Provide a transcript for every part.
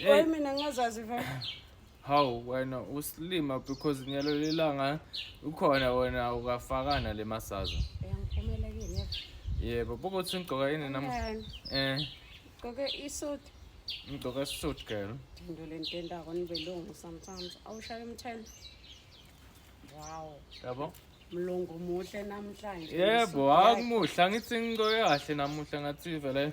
Oy mina ngazazi vele. Hawu wena usilima because nyalo lelanga ukhona wena ukafakana le masaza. Uyangiphumela kini yebo. Yebo buka ukuthi ngigqoka yini nam. Ngani? Eh Gqoke isuit. ngigqoka suit girl. Into le nto endako nibelungu sometimes. Awushaye umthelo. Wow. Yabo? Mlungu muhle namhlanje. Yebo akumuhle angithi ngigqoke kahle namuhla ngathi vele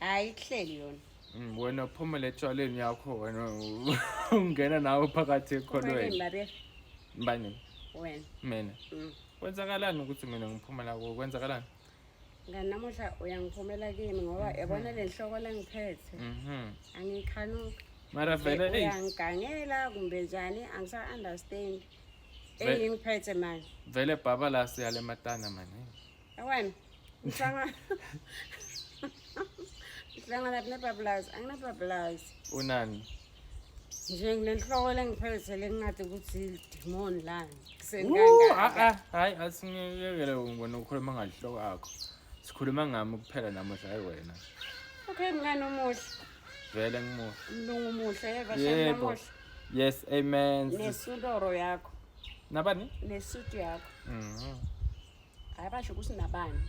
hayi kuhleli yona Mm, wena phumela etshwaleni yakho wena u- ungena nawe phakathi ekholweni babe bani wena mina Mm. kwenzakalani ukuthi mina ngiphuma la kuwe kwenzakalani ngani namuhla uyangiphumela kimi ngoba yabona le nhloko lengiphethe mhm angikhanuki mara vele eyi uyangigangela kumbe njani angisa-understand Ve- engingiphethe manje vele bhaba la siyale matana mani Awan, ngihlanga ngihlanga lapha nebabulazi anginababulazi unani nje nginenhloko lengiphethe lengingathi ukuthi idimoni lani ah, hayi ah, asingekele ngibona ukhuluma ngalihloko akho sikhuluma ngami kuphela namuhla hayi wena okay mngane omuhle vele ngimuhle mlungu muhle yeva yes amen nesudoro yakho nabani nesuit yakho mm. hayi basho ukuthi nabani